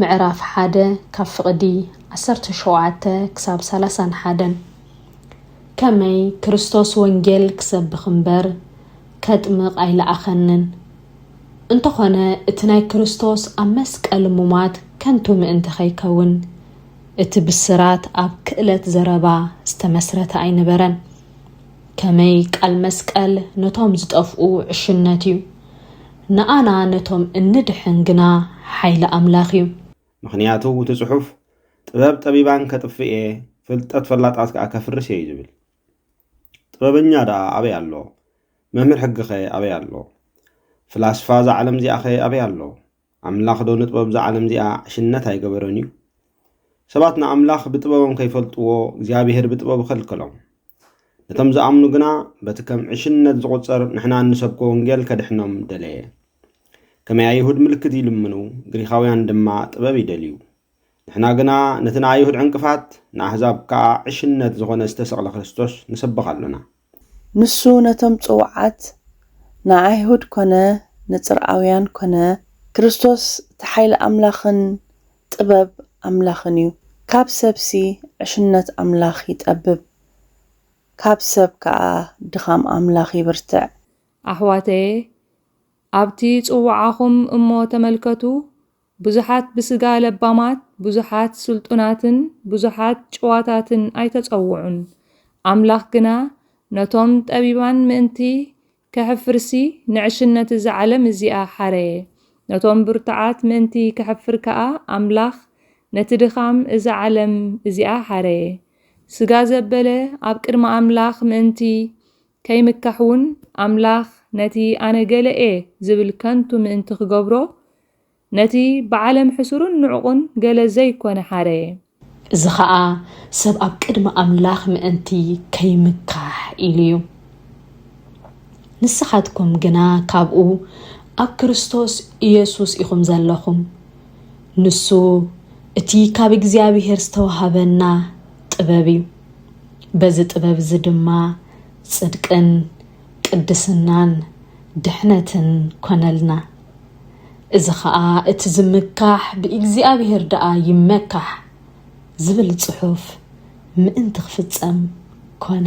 ምዕራፍ ሓደ ካብ ፍቕዲ ዓሰርተ ሸውዓተ ክሳብ ሰላሳን ሓደን ከመይ ክርስቶስ ወንጌል ክሰብኽ እምበር ከጥምቕ ኣይለኣኸንን፣ እንተኾነ እቲ ናይ ክርስቶስ ኣብ መስቀል ሙማት ከንቱ ምእንቲ ከይከውን እቲ ብስራት ኣብ ክእለት ዘረባ ዝተመስረተ ኣይነበረን። ከመይ ቃል መስቀል ነቶም ዝጠፍኡ ዕሽነት እዩ፣ ንኣና ነቶም እንድሕን ግና ሓይሊ ኣምላኽ እዩ። ምኽንያቱ እቲ ጽሑፍ ጥበብ ጠቢባን ከጥፍእ እየ፣ ፍልጠት ፈላጣት ከኣ ከፍርስ እየ እዩ ዝብል። ጥበበኛ ደኣ ኣበይ ኣሎ? መምህር ሕጊኸ ኣበይ ኣሎ? ፍላስፋ እዛ ዓለም እዚኣኸ ኣበይ ኣሎ? ኣምላኽዶ ንጥበብ እዛ ዓለም እዚኣ ዕሽነት ኣይገበሮን እዩ? ሰባት ንኣምላኽ ብጥበቦም ከይፈልጥዎ እግዚኣብሄር ብጥበቡ ከልከሎም። ነቶም ዝኣምኑ ግና በቲ ከም ዕሽነት ዝቝጸር ንሕና እንሰብኮ ወንጌል ከድሕኖም ደለየ። ከመይ ኣይሁድ ምልክት ይልምኑ፣ ግሪኻውያን ድማ ጥበብ ይደልዩ። ንሕና ግና ነቲ ንኣይሁድ ዕንቅፋት፣ ንኣህዛብ ከኣ ዕሽነት ዝዀነ ዝተሰቕለ ክርስቶስ ንሰብኽ ኣሎና። ንሱ ነቶም ጽዉዓት፣ ንኣይሁድ ኰነ ንጽርኣውያን ኰነ፣ ክርስቶስ እቲ ሓይሊ ኣምላኽን ጥበብ ኣምላኽን እዩ። ካብ ሰብሲ ዕሽነት ኣምላኽ ይጠብብ፣ ካብ ሰብ ከኣ ድኻም ኣምላኽ ይብርትዕ። ኣሕዋተየ፣ ኣብቲ ጽውዓኹም እሞ ተመልከቱ፣ ብዙሓት ብሥጋ ለባማት፣ ብዙሓት ሥልጡናትን ብዙሓት ጭዋታትን ኣይተጸውዑን፣ ኣምላኽ ግና ነቶም ጠቢባን ምእንቲ ከሕፍርሲ ንዕሽነት እዛ ዓለም እዚኣ ሓረየ። ነቶም ብርቱዓት ምእንቲ ከሕፍር ከኣ ኣምላኽ ነቲ ድኻም እዛ ዓለም እዚኣ ሓረየ። ስጋ ዘበለ ኣብ ቅድሚ ኣምላኽ ምእንቲ ከይምካሕውን ኣምላኽ ነቲ ኣነ ገለ እየ ዝብል ከንቱ ምእንቲ ክገብሮ ነቲ ብዓለም ሕሱሩን ንዑቕን ገለ ዘይኮነ ሓረየ። እዚ ኸኣ ሰብ ኣብ ቅድሚ ኣምላኽ ምእንቲ ከይምካሕ ኢሉ እዩ። ንስኻትኩም ግና ካብኡ ኣብ ክርስቶስ ኢየሱስ ኢኹም ዘለኹም፣ ንሱ እቲ ካብ እግዚኣብሔር ዝተዋህበና ጥበብ እዩ። በዚ ጥበብ እዚ ድማ ጽድቅን፣ ቅድስናን ድሕነትን ኰነልና። እዚ ኸኣ እቲ ዝምካሕ ብእግዚኣብሄር ደኣ ይመካሕ ዝብል ጽሑፍ ምእንቲ ክፍጸም ኰነ።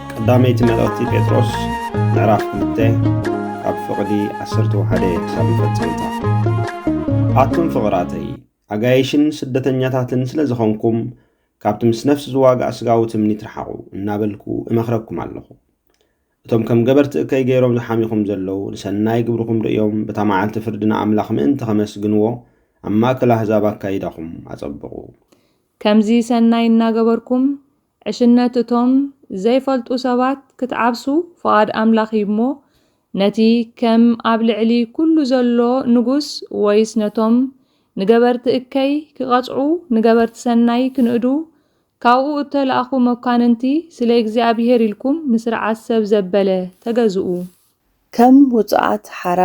ቀዳመይቲ መልእኽቲ ጴጥሮስ ምዕራፍ ክልተ ካብ ፍቕዲ ዓሰርተ ወሓደ ክሳብ መፈጸምታ ኣቱም ፍቕራተይ ኣጋይሽን ስደተኛታትን ስለ ዝኾንኩም ካብቲ ምስ ነፍሲ ዝዋጋእ ስጋዊ ትምኒት ረሓቑ እናበልኩ እመኽረኩም ኣለኹ እቶም ከም ገበርቲ እከይ ገይሮም ዝሓሚኹም ዘለዉ ንሰናይ ግብርኹም ርእዮም በታ መዓልቲ ፍርዲ ንኣምላኽ ምእንቲ ኸመስግንዎ ኣብ ማእከል ኣህዛብ ኣካይዳኹም ኣጸብቑ። ከምዚ ሰናይ እናገበርኩም ዕሽነት እቶም ዘይፈልጡ ሰባት ክትዓብሱ ፍቓድ ኣምላኽ እዩ እሞ፣ ነቲ ከም ኣብ ልዕሊ ኵሉ ዘሎ ንጉስ ወይስ ነቶም ንገበርቲ እከይ ኪቐጽዑ ንገበርቲ ሰናይ ኪንእዱ ካብኡ እተላእኩ መኳንንቲ ስለ እግዚኣብሄር ኢልኩም ንስርዓት ሰብ ዘበለ ተገዝኡ። ከም ውጹዓት ሓራ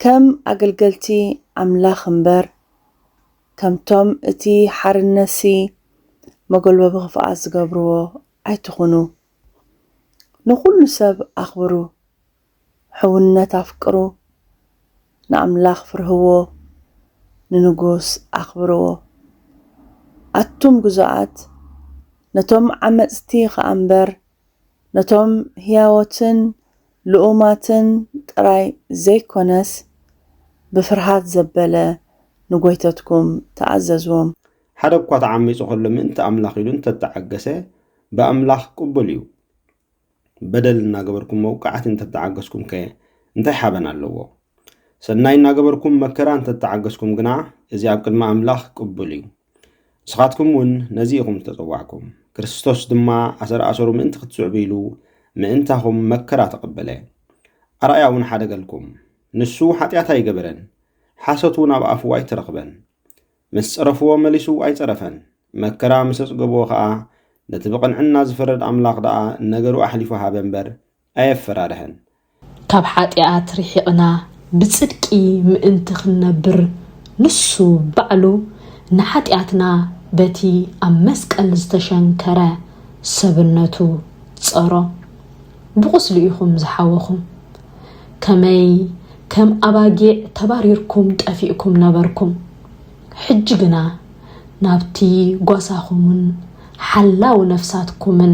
ከም ኣገልገልቲ ኣምላኽ እምበር ከምቶም እቲ ሓርነትሲ መጎልበቢ ክፍኣት ዝገብርዎ ኣይትኹኑ። ንኹሉ ሰብ ኣኽብሩ፣ ሕውነት ኣፍቅሩ፣ ንኣምላኽ ፍርህዎ፣ ንንጉስ ኣኽብርዎ። ኣቱም ግዙኣት፣ ነቶም ዓመጽቲ ኸኣ እምበር ነቶም ህያዎትን ልኡማትን ጥራይ ዘይኰነስ፣ ብፍርሃት ዘበለ ንጐይተትኩም ተኣዘዝዎም። ሓደ እኳ ተዓሚጹ ኸሎ ምእንቲ ኣምላኽ ኢሉ እንተ ተዓገሰ፣ ብኣምላኽ ቅቡል እዩ። በደል እናገበርኩም መውቃዕቲ እንተ ተዓገስኩምከ እንታይ ሓበን ኣለዎ? ሰናይ እናገበርኩም መከራ እንተ ተዓገስኩም ግና፣ እዚ ኣብ ቅድሚ ኣምላኽ ቅቡል እዩ። ንስኻትኩም እውን ነዚ ኢኹም ዝተጸዋዕኩም። ክርስቶስ ድማ ኣሰር ኣሰሩ ምእንቲ ክትስዕቡ ኢሉ ምእንታኹም መከራ ተቐበለ። ኣርኣያ እውን ሓደገልኩም። ንሱ ሓጢኣት ኣይገበረን፣ ሓሶት እውን ኣብ ኣፉ ኣይተረኽበን። ምስ ጸረፍዎ መሊሱ ኣይጸረፈን፣ መከራ ምስ ኣጽገብዎ ኸኣ ነቲ ብቕንዕና ዝፈርድ ኣምላኽ ደኣ ነገሩ ኣሕሊፉ ሃበ እምበር ኣየፈራርህን። ካብ ሓጢኣት ርሒቕና ብጽድቂ ምእንቲ ኽንነብር፣ ንሱ ባዕሉ ንሓጢኣትና በቲ ኣብ መስቀል ዝተሸንከረ ሰብነቱ ጸሮ። ብቝስሉ ኢኹም ዝሓወኹም። ከመይ ከም ኣባጊዕ ተባሪርኩም ጠፊእኩም ነበርኩም። ሕጂ ግና ናብቲ ጓሳኹምን ሓላው ነፍሳትኩምን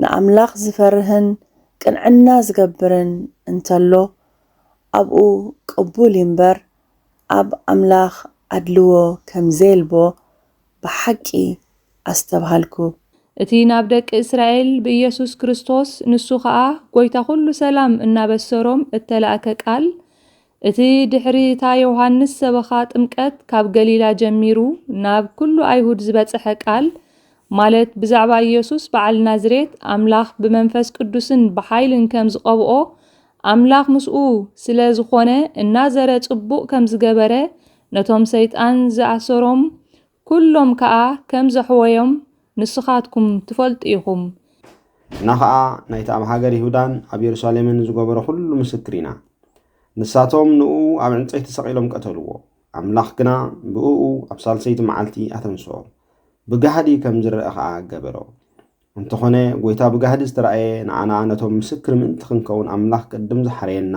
ንኣምላኽ ዚፈርህን ቅንዕና ዚገብርን እንተሎ፣ ኣብኡ ቅቡል እዩ'ምበር፣ ኣብ ኣምላኽ ኣድልዎ ከም ዜልቦ ብሓቂ ኣስተብሃልኩ። እቲ ናብ ደቂ እስራኤል ብኢየሱስ ክርስቶስ፣ ንሱ ኸኣ ጐይታ ዅሉ ሰላም እናበሰሮም እተላእከ ቃል፣ እቲ ድሕሪ እታ ዮሃንስ ሰበኻ ጥምቀት ካብ ገሊላ ጀሚሩ ናብ ኩሉ ኣይሁድ ዝበጸሐ ቃል ማለት ብዛዕባ ኢየሱስ በዓል ናዝሬት ኣምላኽ ብመንፈስ ቅዱስን ብሓይልን ከም ዝቐብኦ ኣምላኽ ምስኡ ስለ ዝኾነ እናዘረ ጽቡቕ ከም ዝገበረ ነቶም ሰይጣን ዝኣሰሮም ኩሎም ከኣ ከም ዘሕወዮም ንስኻትኩም ትፈልጡ ኢኹም። ንሕና ኸኣ ናይቲ ኣብ ሃገር ይሁዳን ኣብ የሩሳሌምን ዝገበሮ ዅሉ ምስክር ኢና። ንሳቶም ንእኡ ኣብ ዕንጸይቲ ሰቒሎም ቀተልዎ፣ ኣምላኽ ግና ብእኡ ኣብ ሳልሰይቲ መዓልቲ ኣተንስኦ፣ ብጋህዲ ከም ዝርኣ ኸኣ ገበሮ። እንተኾነ ጐይታ ብጋህዲ ዝተራእየ ንኣና ነቶም ምስክር ምእንቲ ክንከውን ኣምላኽ ቅድም ዝሓረየና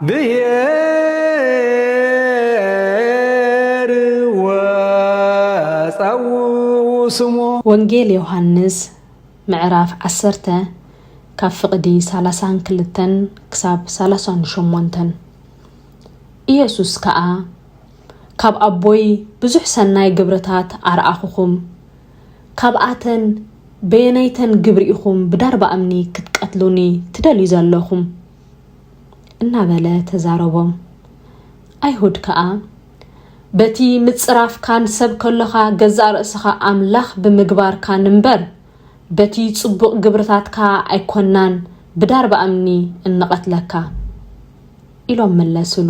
ብሄር ወፀውኡ ስሞ። ወንጌል ዮሃንስ ምዕራፍ ዓሰርተ ካብ ፍቕዲ ሳላሳን ክልተን ክሳብ ሳላሳን ሾሞንተን ኢየሱስ ከኣ ካብ ኣቦይ ብዙሕ ሰናይ ግብርታት ኣርኣኹኹም፣ ካብኣተን በየነይተን ግብሪ ኢኹም ብዳርባ እምኒ ክትቀትሉኒ ትደልዩ ዘለኹም? እናበለ ተዛረቦም። ኣይሁድ ከኣ በቲ ምጽራፍካን ሰብ ከሎኻ ገዛእ ርእስኻ ኣምላኽ ብምግባርካን እምበር በቲ ጽቡቕ ግብርታትካ ኣይኮናን ብዳርባ እምኒ እንቐትለካ ኢሎም መለስሉ።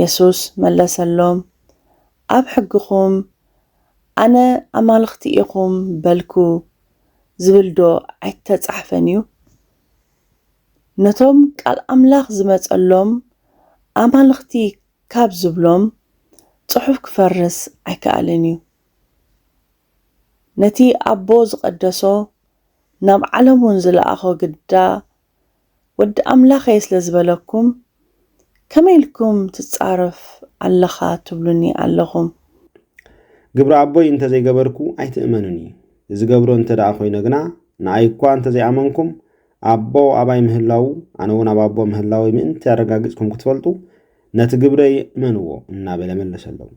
የሱስ መለሰሎም፣ ኣብ ሕግኹም ኣነ ኣማልኽቲ ኢኹም በልኩ ዝብልዶ ኣይተጻሕፈን እዩ? ነቶም ቃል ኣምላኽ ዝመጸሎም ኣማልኽቲ ካብ ዝብሎም ጽሑፍ ክፈርስ ኣይክኣልን እዩ። ነቲ ኣቦ ዝቐደሶ ናብ ዓለምውን ዝለኣኾ ግዳ ወዲ ኣምላኽ'የ ስለ ዝበለኩም ከመይ ኢልኩም ትጻረፍ ኣለኻ ትብሉኒ ኣለኹም። ግብረ ኣቦይ እንተ ዘይገበርኩ ኣይትእመኑኒ ዝገብሮ እንተ ደኣ ኮይነ ግና ንኣይ እኳ እንተ ዘይኣመንኩም ኣቦ ኣባይ ምህላዉ ኣነ እውን ኣብ ኣቦ ምህላወይ ምእንቲ ኣረጋጊጽኩም ክትፈልጡ ነቲ ግብረይ እመንዎ እናበለ መለሰሎም።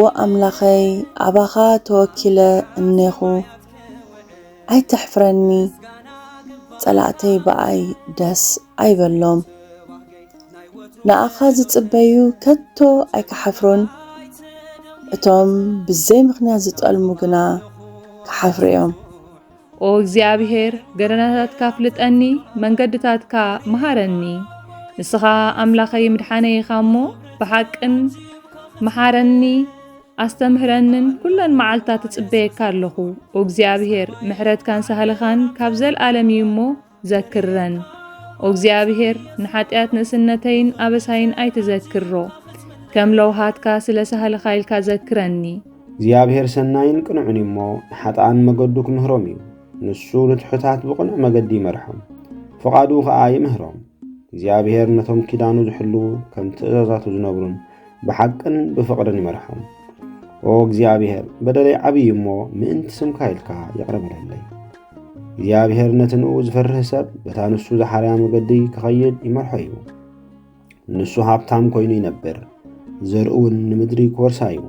ወኣምላኸይ ኣባኻ ተወኪለ እኔኹ ኣይተሕፍረኒ ፀላእተይ ብኣይ ደስ ኣይበሎም ንኣኻ ዝፅበዩ ከቶ ኣይክሓፍሩን እቶም ብዘይምኽንያት ዝጠልሙ ግና ክሓፍሩ እዮም። ኦ እግዚኣብሔር ገደናታትካ ኣፍልጠኒ መንገድታትካ መሃረኒ ንስኻ ኣምላኸይ ምድሓነይ ኢኻ እሞ ብሓቅን መሓረኒ ኣስተምህረንን ኩለን መዓልትታት ትጽበየካ ኣለኹ። ኦ እግዚኣብሄር ምሕረትካን ሳህልኻን ካብ ዘልኣለም እዩ እሞ ዘክረን። ኦ እግዚኣብሔር ንሓጢኣት ንእስነተይን ኣበሳይን ኣይትዘክሮ፣ ከም ለውሃትካ ስለ ሳህልኻ ኢልካ ዘክረኒ። እግዚኣብሔር ሰናይን ቅኑዕን እዩ እሞ ንሓጥኣን መገዱ ክምህሮም እዩ። ንሱ ንትሑታት ብቕኑዕ መገዲ ይመርሖም፣ ፍቓዱ ኸኣ ይምህሮም። እግዚኣብሔር ነቶም ኪዳኑ ዝሕልዉ ከም ትእዛዛቱ ዝነብሩን ብሓቅን ብፍቕርን ይመርሖም። ኦ እግዚኣብሔር በደለይ ዓብዪ እሞ ምእንቲ ስምካ ኢልካ ይቕረ በለለይ። እግዚኣብሔር ነቲ ንኡ ዝፈርህ ሰብ በታ ንሱ ዝሓርያ መገዲ ክኸይድ ይመርሖ እዩ። ንሱ ሃብታም ኮይኑ ይነብር፣ ዘርኡውን ንምድሪ ክወርሳ እዩ።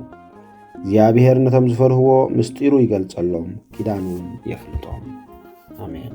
እግዚኣብሔር ነቶም ዝፈርህዎ ምስጢሩ ይገልጸሎም፣ ኪዳኑ የፍልጦም። ኣሜን።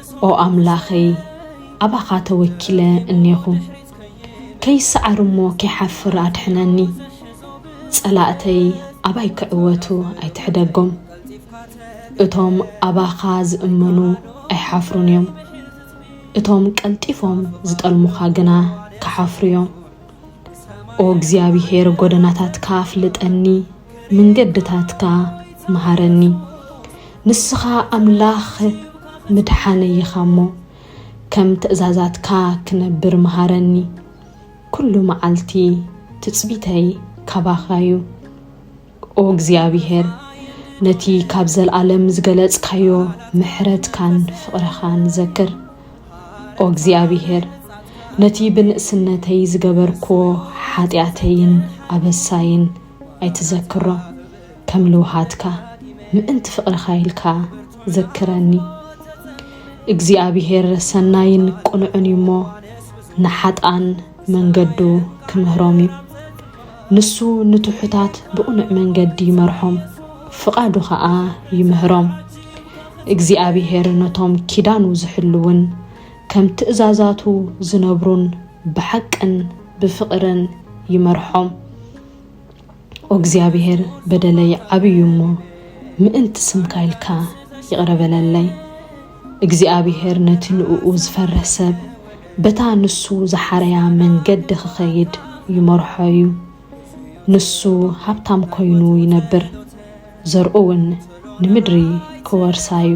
ኦ ኣምላኸይ ኣባኻ ተወኪለ እኔኹ ከይሰዓር እሞ ከይሓፍር ኣድሕነኒ ጸላእተይ ኣባይ ክዕወቱ ኣይትሕደጎም እቶም ኣባኻ ዝእመኑ ኣይሓፍሩን እዮም እቶም ቀልጢፎም ዝጠልሙኻ ግና ክሓፍሩ እዮም ኦ እግዚኣብሔር ጎደናታትካ ኣፍልጠኒ ምንገድታትካ መሃረኒ ንስኻ ኣምላኽ ምድሓነይ ኢኻ እሞ ከም ትእዛዛትካ ክነብር መሃረኒ ኩሉ መዓልቲ ትጽቢተይ ካባኻ እዩ ኦ እግዚኣብሄር ነቲ ካብ ዘልኣለም ዝገለጽካዮ ምሕረትካን ፍቕርኻን ዘክር ኦ እግዚኣብሄር ነቲ ብንእስነተይ ዝገበርክዎ ሓጢኣተይን ኣበሳይን ኣይትዘክሮ ከም ልውሃትካ ምእንቲ ፍቅርካ ኢልካ ዘክረኒ እግዚኣብሄር ሰናይን ቅኑዕን እዩ እሞ ንሓጥኣን መንገዱ ክምህሮም እዩ ንሱ ንትሑታት ብቕኑዕ መንገዲ ይመርሖም ፍቓዱ ኸኣ ይምህሮም እግዚኣብሄር ነቶም ኪዳኑ ዝሕልውን ከም ትእዛዛቱ ዝነብሩን ብሓቅን ብፍቕርን ይመርሖም። ኦእግዚኣብሔር በደለይ ዓብይ እዩ እሞ ምእንቲ ስምካ ኢልካ ይቕረ በለለይ። እግዚኣብሔር ነቲ ንእኡ ዝፈርህ ሰብ በታ ንሱ ዝሓረያ መንገዲ ክኸይድ ይመርሖ እዩ። ንሱ ሃብታም ኮይኑ ይነብር፣ ዘርኡውን ንምድሪ ክወርሳ እዩ።